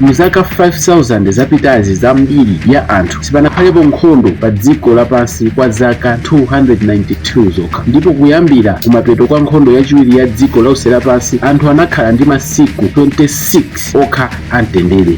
mzaka 5000 zapitazi za mbiri ya anthu sipanakhalepo nkhondo pa dziko lapansi kwa zaka 292 zokha ndipo kuyambira kumapeto kwa nkhondo yachiwiri ya dziko lonse lapansi anthu anakhala ndi masiku 26 okha amtendere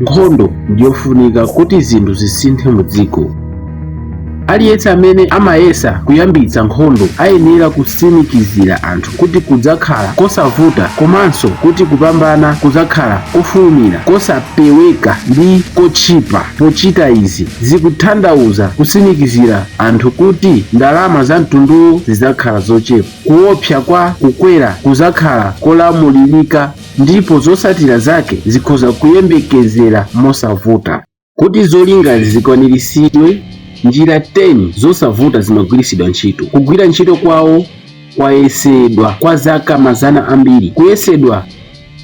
Nkhondo ndi yofunika kuti zinthu zisinthe mu dziko. Aliyense amene amayesa kuyambitsa nkhondo ayenera kutsimikizira anthu kuti kudzakhala kosavuta komanso kuti kupambana kudzakhala kofulumira, kosapeweka ndi kotchipa. Pochita izi, zikutanthauza kutsimikizira anthu kuti ndalama za mtunduwo zidzakhala zochepa, kuopsa kwa kukwera kudzakhala kolamulirika, ndipo zotsatira zake zikhoza kuyembekezera mosavuta. Kuti zolingazi zikwaniritsidwe, njira 10 zosavuta zimagwiritsidwa ntchito. Kugwira ntchito kwawo kwayesedwa kwa zaka mazana ambiri, kuyesedwa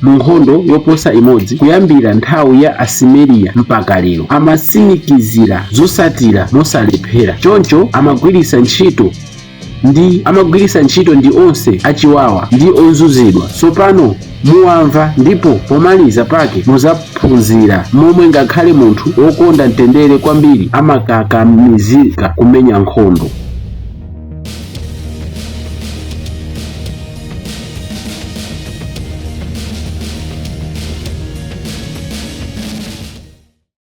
mu nkhondo yoposa imodzi kuyambira nthawi ya Asumeriya mpaka lero. Amatsimikizira zotsatira mosalephera, choncho amagwiritsa ntchito ndi amagwiritsa ntchito ndi onse achiwawa ndi ozunzidwa tsopano muwamva ndipo pomaliza pake muzaphunzira momwe ngakhale munthu wokonda mtendere kwambiri amakakamizika kumenya nkhondo